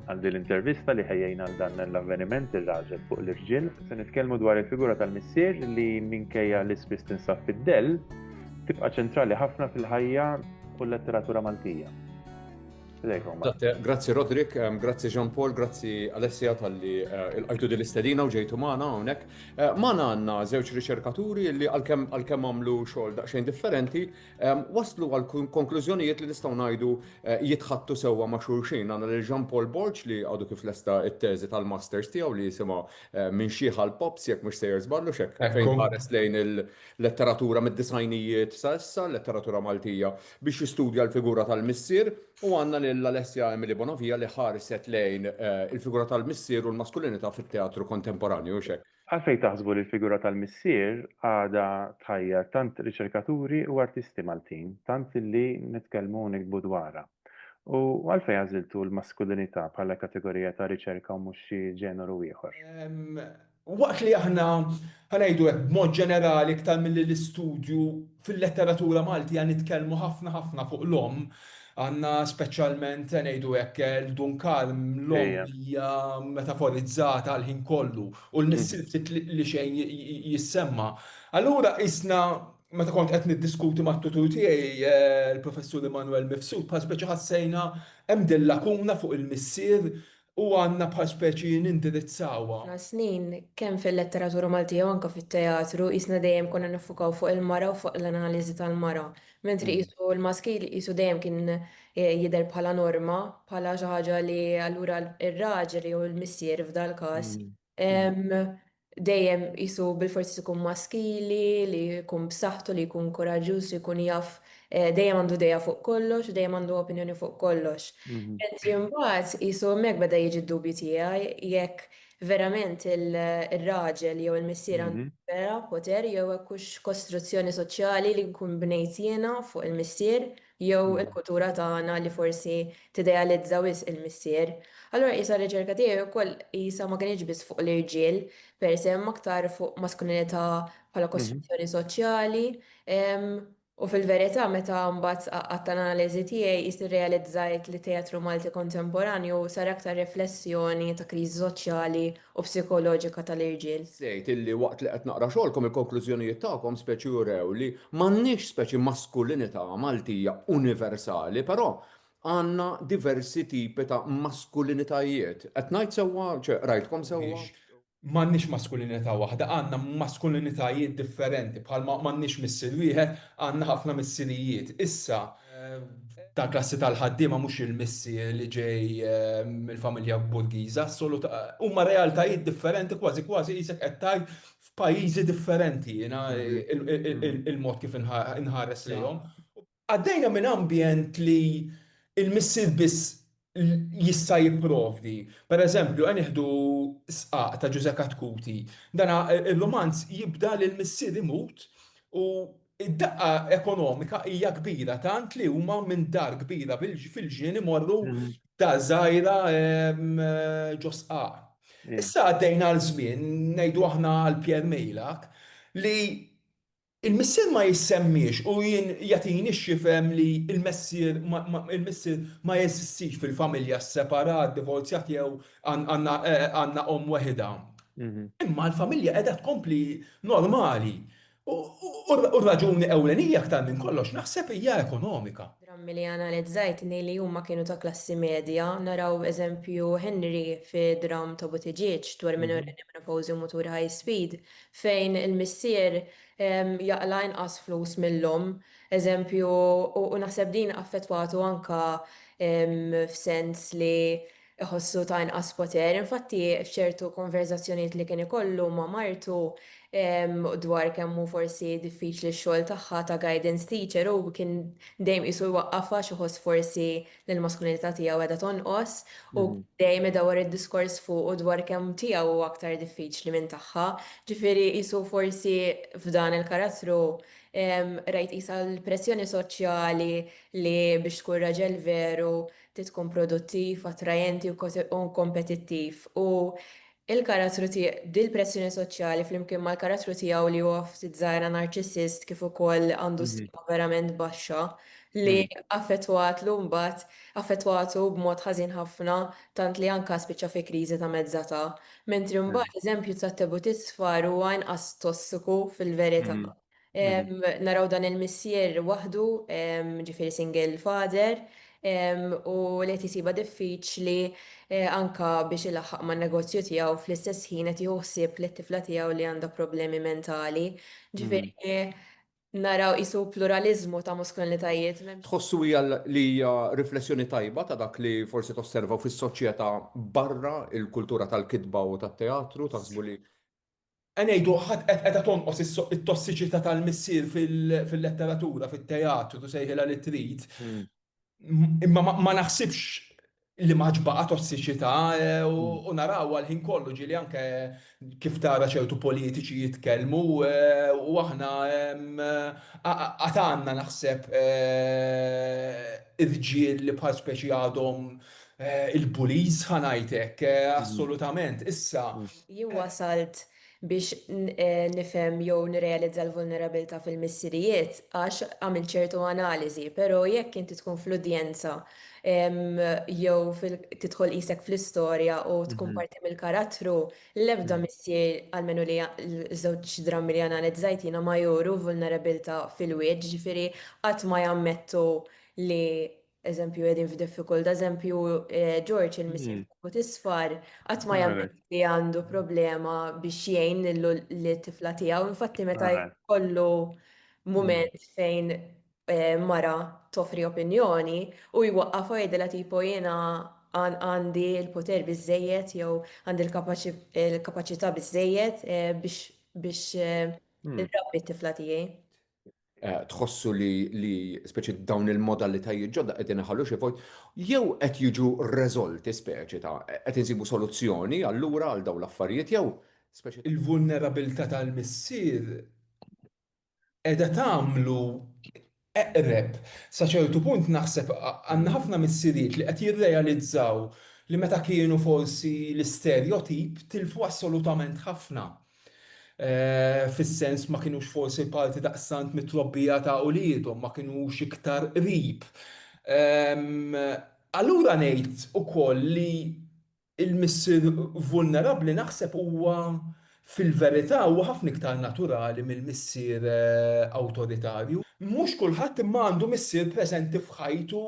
Għal din l-intervista li ħejjejn għal dan l-avveniment ir-raġel fuq l-irġiel, se nitkellmu dwar il-figura tal-missier li minkejja li spiss tinsab fid-dell, tibqa' ċentrali ħafna fil-ħajja u l-letteratura Maltija. Grazzi Rodrik, ehm, grazzi Jean Paul, grazzi Alessia tal-li eh, il-qajtu din l-istedina u ġejtu maħna għonek. Eh, maħna għanna zewċ riċerkaturi li għal-kem għamlu xol daqxajn differenti, waslu għal konklużjonijiet li nistgħu ngħidu eh, jitħattu sewwa ma' xulxin. Għandna lil Jean Paul Borg li għadu kif lesta it-teżi tal-masters tiegħu li jisimha eh, minn xieħa l-pops jekk mhux sejjer żballu xek fejn ħares lejn il-letteratura mid-disajnijiet sa issa, letteratura Maltija biex jistudja l-figura tal-missier u għandna lil Alessia Emily Bonovija li ħarset lejn eh, il-figura tal-missier u l-maskulinità fit-teatru kontemporanju xek. Għalfejn taħsbu li l-figura tal-missier għadha tħajjar tant riċerkaturi u artisti Maltin, tant li nitkellmu u niktbu dwarha? U għalfejn għażiltu l-maskulinità bħala kategorija ta' riċerka u mhux xi ġeneru ieħor? Waqt li aħna, ħa ngħidu hekk, b'mod ġenerali iktar milli l-istudju fil-letteratura Maltija nitkellmu ħafna ħafna fuq l-omm, Għandna speċjalment, se ngħidu hekk, il-Dun Kalm, l-omm hija metaforizzata għall-ħin kollu u l-missier ftit li xejn jissemma. Allura qisna, meta kont qed niddiskuti mat-tutur tiegħi, il-Professur Immanuel Mifsud, bħal speċi ħassejna hemm din lakuna fuq il-missier u għandna bħal speċi nindirizzawha. F'ħafna snin, kemm fil-letteratura Maltija u anke fit-teatru, qisna dejjem konna niffukaw fuq il-mara u fuq l-analiżi tal-mara, mentri qisu l-maskil qisu dejjem kien jidher bħala norma, bħala xi ħaġa li allura r-raġel jew il-missier f'dal-każ, Dejjem qisu bilfors ikun maskili, li jkun b'saħħtu, li jkun kuraġġuż, li jkun jaf dejjem għandu idea fuq kollox u dejjem għandu opinjoni fuq kollox. Mentri mbagħad qisu hemmhekk beda jiġi d-dubju tiegħi jekk verament ir-raġel jew il-missier għandu vera poter jew hekk hux kostruzzjoni soċjali li nkun bnejt jiena fuq il-missier jew il-kultura tagħna li forsi tidealizza wisq il-missier. Allura qisha r-riċerka tiegħi wkoll qisha ma kinitx biss fuq l-irġiel per se imma aktar fuq maskulinità bħala kostruzzjoni soċjali u fil-verità meta mbagħad għadt tal-analiżi tiegħi qis irrealizzajt li t-teatru Malti kontemporanju sar aktar riflessjoni ta' kriżi soċjali u psikoloġika tal-irġiel. Żied illi waqt li qed naqra xogħolkom il-konklużjonijiet tagħkom speċi urew li m'għandniex speċi maskulinità Maltija universali però għandna diversi tipi ta' maskulinitajiet. Qed ngħid sewwa? Ċe qrajtkom sewwa? M'għandniex maskulinità waħda, għandna maskulinitajiet differenti bħalma m'għandniex missier wieħed, għandna ħafna missirijiet. Issa, ta' klassi tal-ħaddiema mhux il-missi li ġej mill-familja Borgiża, huma realtajiet differenti kważi kważi qisek qed tgħid f'pajjiżi differenti jiena l-mod kif inħares lejhom. Għaddejna minn ambjent li l-missier biss jista' jipprovdi. Pereżempju, għen nieħdu Sqaq ta' Ġużè Katkuti. Dana r-rumanz jibda li l-missier imut u d-daqqa ekonomika hija kbira tant li huma minn dar kbira fil-ġnien imorru f'dar żgħira ġo Sqaq. Issa għaddejna għal żmien, ngħidu aħna għal Pierre Meilhac, li Il-Missier ma jissemmiex u jien jagħtini x'jifhem li l-messier ma il-missier ma jeżistix fil-familja sseparat, divorzjat jew għandna għandna omm weħidha. Imma l-familja qiegħda tkompli normali. U u r-raġuni ewlenija aktar minn kollox naħseb hija ekonomika. Drammi li analizzajt ngħid li huma kienu ta' klassi medja. Naraw eżempju Henry fi dramm ta' Buttigieg dwar minorenni menopawżi u mutur high speed. fejn il-missier jaqla' inqas flus mill-omm, eżempju, u naħseb din affettwatu anke f'sens li jħossu ta' inqas poter. Infatti, f'ċertu konverżazzjonijiet li kien ikollu ma' martu dwar kemm hu forsi diffiċli x-xogħol tagħha ta' guidance teacher, hu kien dejjem qisu jwaqqafha għax iħoss forsi li l-maskulinità tiegħu qiegħda tonqos u dejjem idawwar id-diskors fuqu dwar kemm tiegħu huwa aktar diffiċli minn tagħha. Ġifieri qisu forsi f'dan il-karattru rajt qisha l-pressjoni soċjali li biex tkun raġel veru trid tkun produttiv, attrajenti u kompetittiv u Il-karattru ti dil-pressjoni soċjali flimkien mal-karattru tiegħu li huwa ftit żgħira narċissist kif ukoll għandu stima verament baxxa li affettwatlu mbagħad affettwatu b'mod ħażin ħafna tant li anka spiċċa fi kriżi ta' mezz'età. Mentri mbagħad l-eżempju ta' Tebu Tisfar huwa inqas tossiku fil-verità. Naraw dan il-missier waħdu, ġifieri single father, u li qed isibha diffiċli anke biex ilaħħaq man-negozju tiegħu fl-istess ħin qed jieħu ħsieb lit-tifla tiegħu li għandha problemi mentali. Ġifieri naraw qisu pluraliżmu ta' maskulinitajiet. Tħossu hija li hija riflessjoni tajba ta' dak li forsi tosservaw fis-soċjetà barra l-kultura tal-kitba u tat-teatru? Taħsbu li Ngħidu ħadd qed qiegħda tonqos is it-tossiċità tal-missier fil-letteratura, fit-teatru, tu sejħilha li trid, imma ma naħsibx li m'għaġbha tossiċità u narawha l-ħin kollu, ġieli anke kif tara ċertu politiċi jitkellmu u aħna għad għandna naħseb irġiel li bħal speċi għadhom il-bullies ħa ngħid hekk, assolutament. Issa, Jien wasalt biex nifhem jew nirrealizza l-vulnerabilità fil-missirijiet għax għamilt ċertu analiżi, però jekk inti tkun fl-udjenza jew tidħol qisek fl-istorja u tkun parti mill-karattru, l-ebda missier, almenu li ż-żewġ drammi li analizzajt jiena ma juru vulnerabilità fil-wied, jiġifieri qatt ma jammettu li Eżempju, qegħdin f'diffikultà, eżempju, eh, George il-missier mm. fuq isfar qatt ma jagħmel li għandu problema biex jgħin lit-tifla tiegħu. Infatti meta jkollu mument mm. fejn eh, mara toffri opinjoni u jwaqqaf għidela tipo jiena għandi l-poter biżejjed jew għandi l-kapaċità biżejjed eh, biex mm. il-rabbi t-tifla tiegħi. tħossu li, li speċi dawn il-modalitajiet ġodda qegħdin iħallu xi vojt, jew qed jiġu reżolti speċi ta' qed insibu soluzzjoni allura għal dawn l-affarijiet jew speċi il-vulnerabilità tal-missier qiegħda tagħmlu eqreb sa ċertu punt naħseb għandna ħafna missirijiet li qed jirrealizzaw li meta kienu forsi l-isterjotip tilfu assolutament ħafna. fis-sens ma kinux forsi parti daqstant mit-trobbija ta' uliedhom, ma kinux iktar qrib. Allura ngħid ukoll li l-missier vulnerabbli naħseb huwa fil-verità huwa ħafna iktar naturali mill-missier awtoritarju. Mhux kulħadd imma għandu missier preżenti f'ħajtu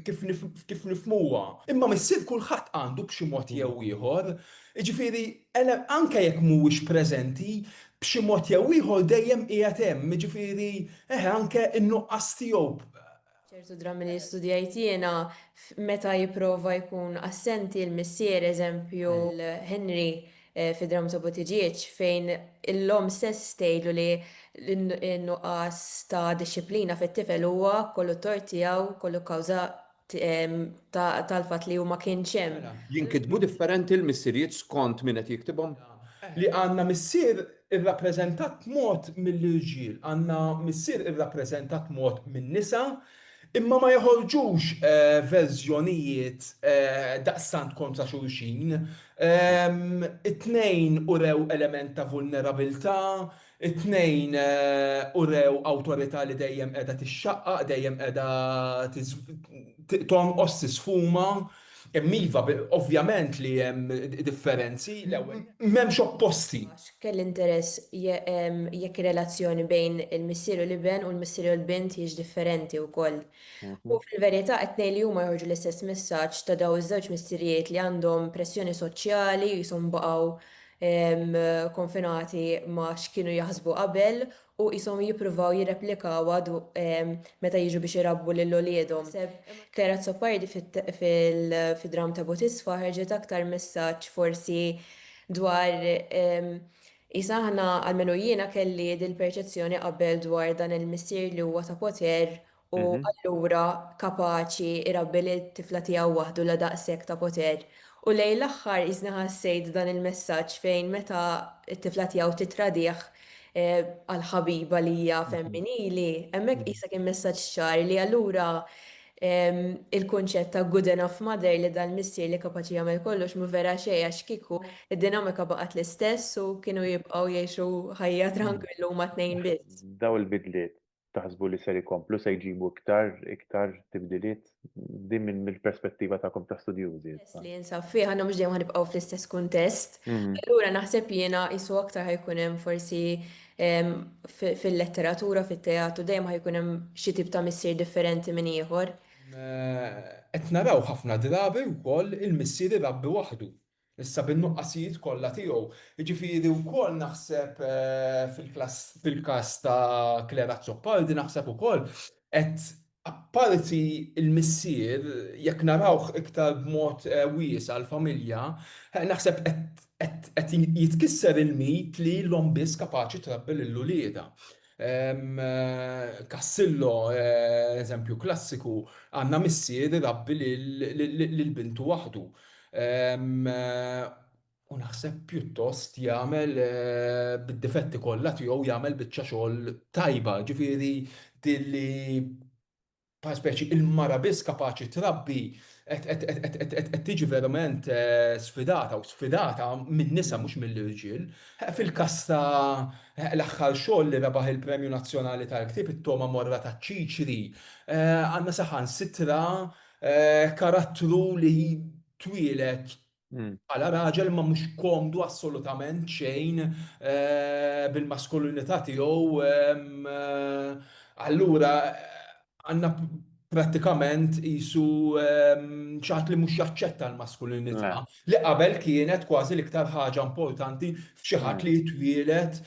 kif nifhmuha. Imma missier kulħadd għandu b'xi mod jew ieħor. Jiġifieri, Għeleb anke jekk mhuwiex preżenti, b'xi mod jew ieħor dejjem qiegħed hemm, jiġifieri, eħe, anke n-nuqqas tiegħu b'. Ċertu drammi li studjajt jiena, meta jipprova jkun assenti l-missier, eżempju, Henry fid-dramma ta' Buttigieg, fejn l-omm stess tgħidlu li n-nuqqas ta' dixxiplina fit-tifel huwa kollu t-tort tiegħu, kollu kawża tal-fatt li huma kienx hemm. Jinkitbu differenti l-missirijiet skont min qed jiktibhom? Li għandna missier irrappreżentat mod mill-irġiel, għandna missier irrappreżentat mod min-nisa, imma ma joħorġux verżjonijiet daqstant kontra xulxin. It-tnejn urew element ta' vulnerabilità, It-tnejn urew awtorità li dejjem qiegħda tixxaqqaq, dejjem qiegħda tonqos, tisfuma. Imma iva, ovvjament li hemm differenzi. L-ewwel nett, m'hemmx opposti. Kelli interess jekk ir-relazzjoni bejn il-missier u l-iben u l-missier u l-bint hijiex differenti wkoll. U fil-verità, it-tnejn li huma joħorġu l-istess messaġġ ta' dawn iż-żewġ missirijiet li għandhom pressjoni soċjali u qishom baqgħu konfinati ma' x'kienu jaħsbu qabel u qishom jippruvaw jirreplikawha meta jiġu biex irabbu lil uliedhom. Kera Azzopardi fid-dramm ta' Butisfa ħerġet aktar messaġġ forsi dwar qisha aħna, almenu jiena kelli dil-perċezzjoni qabel dwar dan il-missier li huwa ta' poter u allura kapaċi jrabbi lit-tifla tiegħu waħdu la daqshekk ta' poter. U lejn l-aħħar qisni ħassejt dan il-messaġġ fejn meta t-tifla tiegħu tittradih għal ħabiba li hija femminili, hemmhekk qisha kien messaġġ ċar li allura il-kunċett ta' good enough mother li dal-missier li kapaċi jagħmel kollox mhu vera xejn għax kieku d-dinamika baqgħet l-istess u kienu jibqgħu jgħixu ħajja trankwill huma t-tnejn biss. Dawn il-bidliet taħsbu li ser ikomplu se jġibu iktar iktar tibdiliet din minn mill-perspettiva tagħkom ta' studjużi. Li jinsab fih għandna mhux dejjem ħanibqgħu fl-istess kuntest. Allura naħseb jiena qisu aktar ħajkun hemm forsi fil-letteratura, fit-teatru dejjem ħajkun hemm xi tip ta' missier differenti minn ieħor. Qed naraw ħafna drabi wkoll il-missier irabbi waħdu. Issa bin-nuqqasijiet kollha tiegħu. Jiġifieri wkoll naħseb fil-klass fil-każ ta' Claire Azzopardi naħseb ukoll qed apparti l-missier jekk narawh iktar b'mod wiesa' l-familja naħseb qed qed jitkisser il-mit li l-omm biss kapaċi trabbi lil uliedha. Cassillo, eżempju klassiku, għandna missier irabbi lil bintu waħdu u naħseb pjuttost jagħmel bid-difetti kollha tiegħu jagħmel biċċa xogħol tajba, ġifieri din li bħal speċi il-mara biss kapaċi trabbi qed tiġi verament sfidata u sfidata min-nisa mhux mill-irġiel. Fil-każ ta' l-aħħar xogħol li rebaħ il-Premju Nazzjonali tal-Ktieb, It-Togħma Morra taċ-Ċiċri, għandna saħansitra karattru li twieled Bħala raġel imma mhux komdu assolutament xejn bil-maskulinità tiegħu. Allura għandna prattikament qisu xi ħadd li mhux jaċċetta l-maskulinità li qabel kienet kważi l-iktar ħaġa importanti f'xi ħadd li jitwieled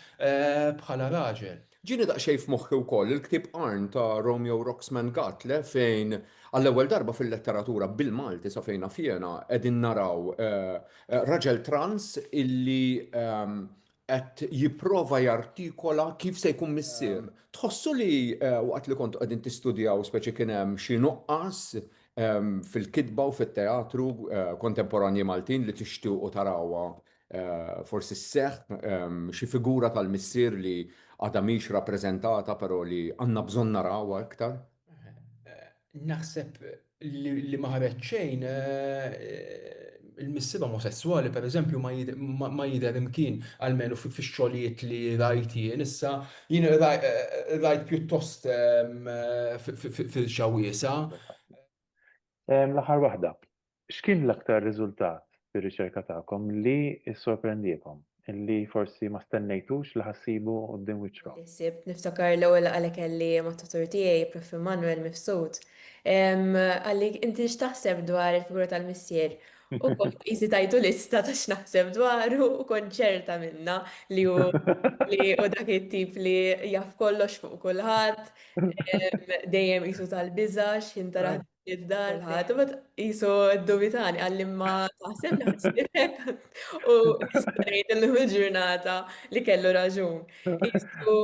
bħala raġel. Ġieni daqsxejn f'moħħi wkoll il-ktieb Arn ta' Romeo Roxman Gatle fejn għall-ewwel darba fil-letteratura bil-Malti sa fejn naf jiena qegħdin naraw raġel trans illi qed jipprova jartikola kif se jkun missier. Tħossu li waqt li kontu qegħdin tistudjaw speċi kien hemm xi nuqqas fil-kitba u fit-teatru kontemporanji Maltin li tixtiequ tarawha Forsi sseħħ xi figura tal-missier li għadha mhix rappreżentata però li għandna bżonn narawha iktar? Naħseb li ma ħareġ xejn. Il-missiba omosesswali pereżempju ma jidher imkien, almenu fix-xogħlijiet li rajt jien. Issa jien rajt pjuttost firxa wiesgħa. L-aħħar waħda. X'kien l-aktar riżultat fir-riċerka tagħkom li ssorprendiekom, li forsi ma stennejtux li ħa ssibu quddiem wiċċkom? Sibt, niftakar l-ewwel laqgħa li kelli mat-tutur tiegħi, Prof. Immanuel Mifsud. Qalli, Inti x'taħseb dwar il-figura tal-Missier? U kont qisni tajtu lista ta' x'naħseb dwaru u kont ċerta minnha li hu dak it-tip li jaf kollox fuq kulħadd, dejjem qisu tal-biża' x'ħin taraħ id-dar ħadd ma qisu ddubitani għalli ma taħseb naħsibek u ngħid illum il-ġurnata li kellu raġun. Qisu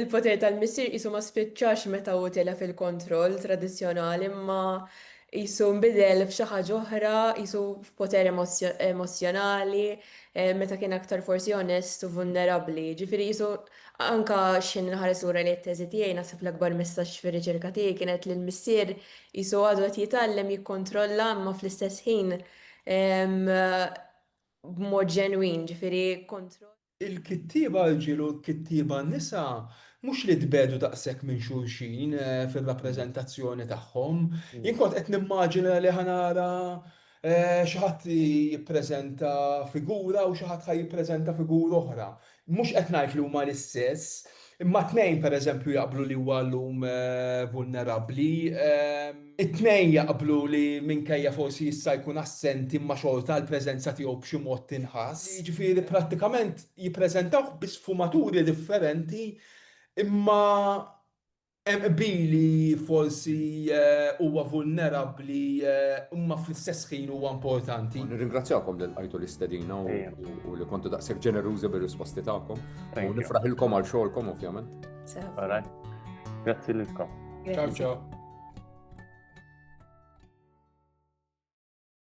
il-poter tal-missier qisu ma spiċċax meta hu tela' fil-kontroll tradizzjonali imma qisu nbidel f'xi ħaġa oħra, qisu f'poter emozzjonali, meta kien aktar forsi onest u vulnerabbli. Ġifieri qisu Anke x'ħin inħares lura lejn it-teżi tiegħi naħseb l-akbar messaġġ fir-riċerka tiegħi kienet li l-missier qisu għadu qed jitgħallem jikkontrolla imma fl-istess ħin b'mod ġenwin, ġifieri kontroll. Il-kittieba rġiel u l-kittieba nisa mhux li tbegħdu daqshekk minn xulxin fir-rappreżentazzjoni tagħhom. Jien kont qed nimmaġina li ħa nara Xi ħadd jippreżenta figura u xi ħadd ħa jippreżenta figura oħra. Mhux qed ngħid li huma l-istess, imma t-tnejn pereżempju jaqblu li huwa llum vulnerabbli. It-tnejn jaqblu li minkejja forsi issa jkun assenti imma xorta l-preżenza tiegħu b'xi mod tinħass. Jiġifieri prattikament jippreżentawh bi sfumaturi differenti imma Hemm qbil li forsi huwa vulnerabbli imma fl-istess ħin huwa importanti. Nirringrazzjakom li lqajtu l-istedina u li kontu daqshekk ġenerużi bir-risposti tagħkom. U nifraħilkom għal xogħolkom ovvjament. Grazzi lilkom. Ciao ciao.